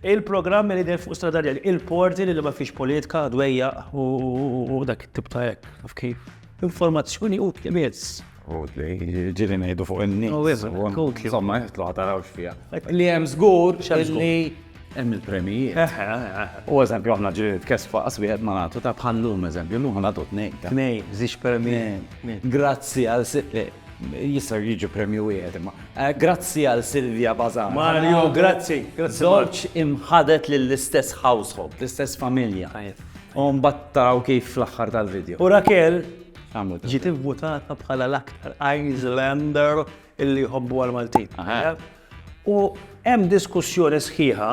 Il-programmi li dejjem fuq strada rjali, il-porti li ma fiex politika, dwejjaq u dak it-tip ta' hekk, taf kif. Informazzjoni utli biss. Utli, ġieli ngħidu fuq in-nies. U wisq, utli. Insomma, jitlu ħa tarawx fiha. Li hemm żgur li hemm il-premijiet. Eh, eh, eh, u eżempju aħna ġieli tkesfa qas wieħed ma nagħtu ta' bħal lum eżempju, lum nagħtu tnejn. Tnejn, żix permijin. Grazzi għal sitt. Jista' jiġi premju wieħed imma. Eh, grazzi għal Silvia Bazar. Mario, grazzi. Żewġ imħadet lill-istess household, l-istess familja. U mbattaw kif fl-aħħar tal-video. U Raquel ġiet ivvutata bħala l-aktar Islander illi jħobbu għal-Maltin. U hemm diskussjoni sħiħa,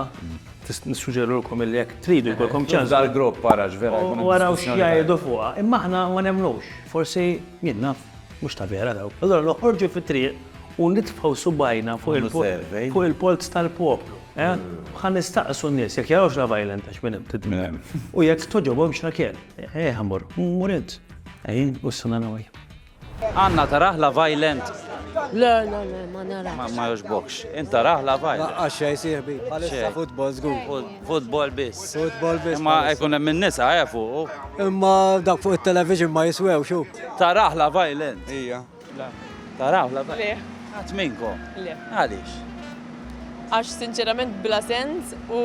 nissuġġerilkom illi jekk tridu jkollkom ċans. Ġibda l-grupp ara x'vera jkun. U araw x'jgħidu fuqha. Imma aħna ma nemmnux, forsi min naf, mhux ta' vera dawk. Allura noħorġu fit-triq u nitfgħu subgħajna fuq il-polz tal-poplu. Ħa nistaqsu n-nies jekk jarawx la violent għax minn hemm tidmi. U jekk togħġobhomx la kell. Ejja ħa mmorru. Mur int. Ejja, u s-sena nagħmel. Anna tarah la violent? Le, le, le, ma narahx. Ma jogħġbokx. Int tarah la violent? Laqqas xejn sieħbi. Bħalissa futbol żgur. Futbol biss. Futbol biss. Imma jkun hemm in-nisa eh fuqu. Imma dak fuq it-television ma jiswewx hu. Tarah la violent? Ija. Le. Tarah la violent? Le. Qatt minnkom? Le. Għaliex? Għax sinċerament bla sens u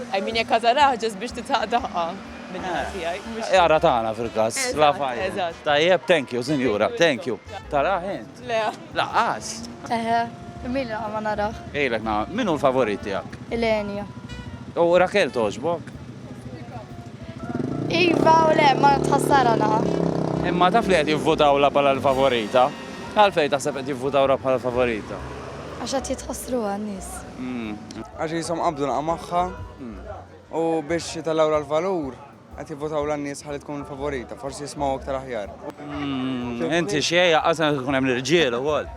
I mean jekk ħa tarah ġust biex titħaqq daħqa. Min-naħa tiegħi. Jara tagħna fil-każ. Eżatt. Tajjeb, thank you, sinjura, thank you. Tarah int? Le. Laqqas? Eħe, min laqa ma narah. Ilek na, min hu l-favorit tiegħek? Il-Enja. U Rakel toġbok? Iva u le, ma tħassara naqa. Imma taf li qed jivvutaw la bħala l-favorita? Għalfejn taħseb qed jivvutaw la bħala l-favorita? Għax qed jitħassru għan-nies. Għax jisom qabdu naqa' magħha. U biex jitallawla l-valur, qed jivvotaw l-nies ħalli tkun favorita, forsi jismaw aktar aħjar. Mm, inti xej, għazan tkun hemm l-irġiel ukoll.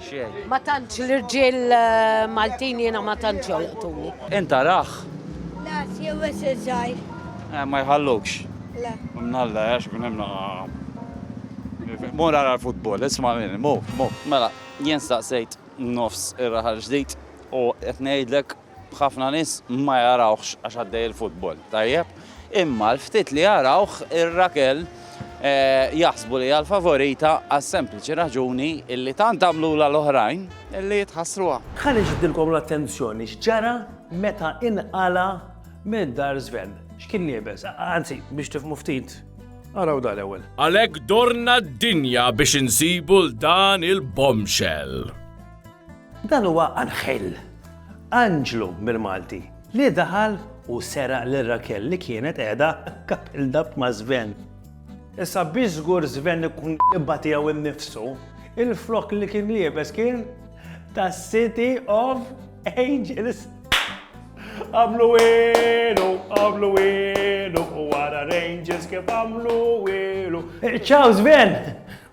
Xej. Ma tantx l-irġiel eh, Maltin jiena ma tantx jolqtuni. Inta raħ. La, jew eżżaj. Eh, ma jħallukx. La. Mnalla, eh, għax kun hemm Mur għara l-futbol, isma' minni, mu, mu. Mela, jien staqsejt nofs ir-raħal ġdid u qed ngħidlek B'ħafna nies ma jarawhx għax għaddej il-futbol tajjeb, imma l-ftit li jarawh ir-Rakel jaħsbu li hija l-favorita għas-sempliċi raġuni li tant għamlulha l-oħrajn li jitħassruha. Ħa niġbdilkom l-attenzjoni x'ġara meta inqala' minn dar żven. X'kien liebes? Anzi, biex tifhmu ftit, araw dan l-ewwel. Għalhekk dorna d-dinja biex insibu 'l dan il-bombshell. Dan huwa Anghel, anġlu bil-Malti, li daħal u seraq lil Raquel li kienet qiegħda couple dub ma' Sven. Issa biex żgur Sven ikun l-imħabba tiegħu nnifsu, il-frokk li kien liebes kien ta' City of Angels. Għamlu wielu, għamlu wielu, u ara l-angels kif għamlu wielu. Ciao Sven!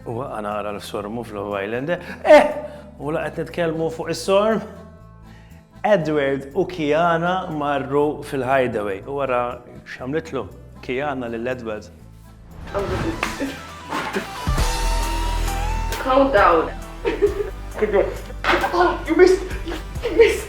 U baqa' nara l-sormu f'Love Island. Eh! U la qed nitkellmu fuq is-sorm? Edward u Kiana marru fil-hideaway u wara x'għamlitlu Kiana lil Edward. Calm down. Good girl. Ah, you missed! You missed!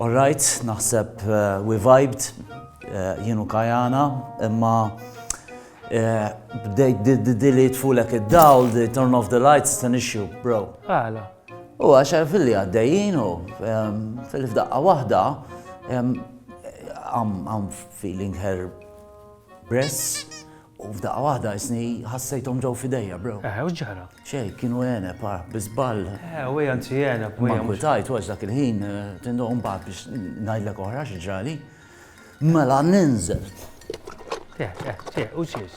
All right, naħseb we vibed, jien u Kajana, imma bdejt di li jitfulek id-dawl, di turn off the lights, it's an issue, bro. Għala. U għaxar fil-li għaddejjien u fil-fdaqqa wahda, I'm feeling her breasts U f'daqqa waħda isni ħassejthom ġew f'idejja, bro. Eħe, u x'ġara? Xejn, kienu għeneb, ah, bi żball. Eħe, u ejja nsi għeneb, u ejja. Ma nkwitajt, u għax dak il-ħin, tindu, u mbagħad biex ngħidlek oħra xi ġrali. Mela ninżel. Eħe, eħe, u xiex?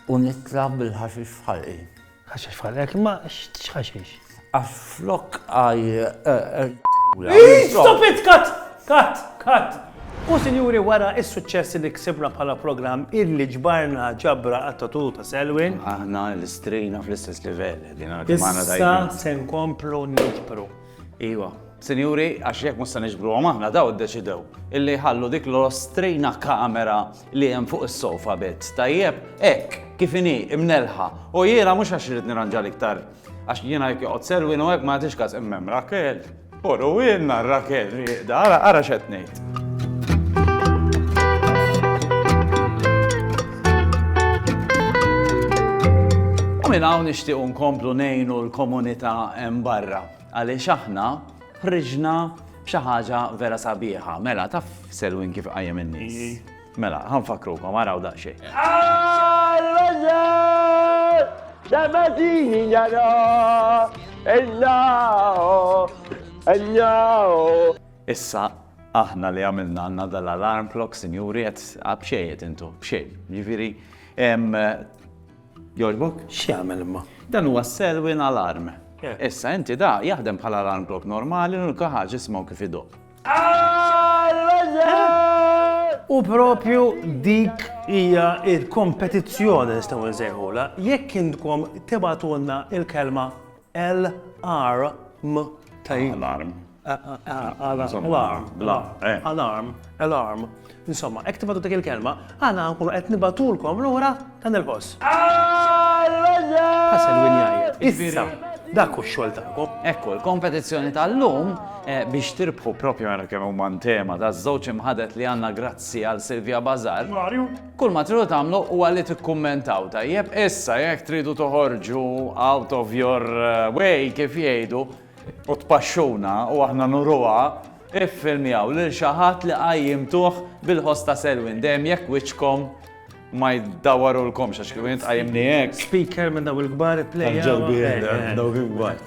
U nitla' bil-ħaxix f'ħalqi. Ħaxex bħal hekk, ma x'ħaxex? Għax flok għaj. Stop it, kat! Kat! Kat! U sinjuri wara is-suċċess li ksibna bħala programm illi ġbarna ġabra għat-tatu ta' Selwin. Aħna l-istrina fl-istess livell. Issa se nkomplu niġbru. Iva, sinjuri, għax jekk mhux se niġbruhom aħna daw iddeċidew illi jħallu dik l-ostrina kamera li hemm fuq is-sofa bit. Tajjeb, hekk, kif inhi, imnelħa. U jiena mhux għax irid nirranġa l-iktar. Għax jiena jekk joqgħod serwin u hekk ma jagħtix każ immem Rakel. Poru ilna Rakel rieqda, ara x'qed ngħid. minn hawn nixtiequ nkomplu ngħinu l-komunità hemm barra għaliex aħna ħriġna b'xi ħaġa vera sabiħa. Mela taf Selwin kif qajjem in-nies. Mela, ħanfakrukom araw daqsxejn. Damatini jara, ejjaw, ejjaw. Issa aħna li għamilna għandna dal-alarm clock, sinjuri, qed b'xejn qed intu, b'xejn. Jiġifieri jogħġbok? X'jagħmel imma? Dan huwa Selwyn alarm. Issa inti da jaħdem bħala alarm clock normali u l-kaħaġ ismaw kif idoq. U propju dik hija il-kompetizzjoni nistgħu nsejħula jekk intkom tibatulna il-kelma L-arm ta' Alarm. Alarm. Alarm. Insomma, hekk tibgħatu dik il-kelma, aħna nkunu qed nibatulkom lura ta' nil-ħoss. Ħasel min jgħid. Issa, dak hu x-xogħol tagħkom. Ekku, l-kompetizzjoni tal-lum eh, biex tirbħu propju għara kemm huma tema ta' żewġ imħadet li għandna grazzi għal Silvia Bazar. Marju. Kull ma tridu tagħmlu huwa li tikkummentaw, tajjeb? Issa jekk tridu toħorġu out of your way kif jgħidu u tpaxxuna u aħna nuruha, iffilmjaw lil xi ħadd li qajjimtuh bil-ħoss ta' Selwyn, dejjem jekk wiċċkom ma jdawwarulkomx għax kieku jien tqajjimni hekk. Speaker minn dawn il-kbar ipplejjaw. Tal-ġelbien, dawk il-kbar.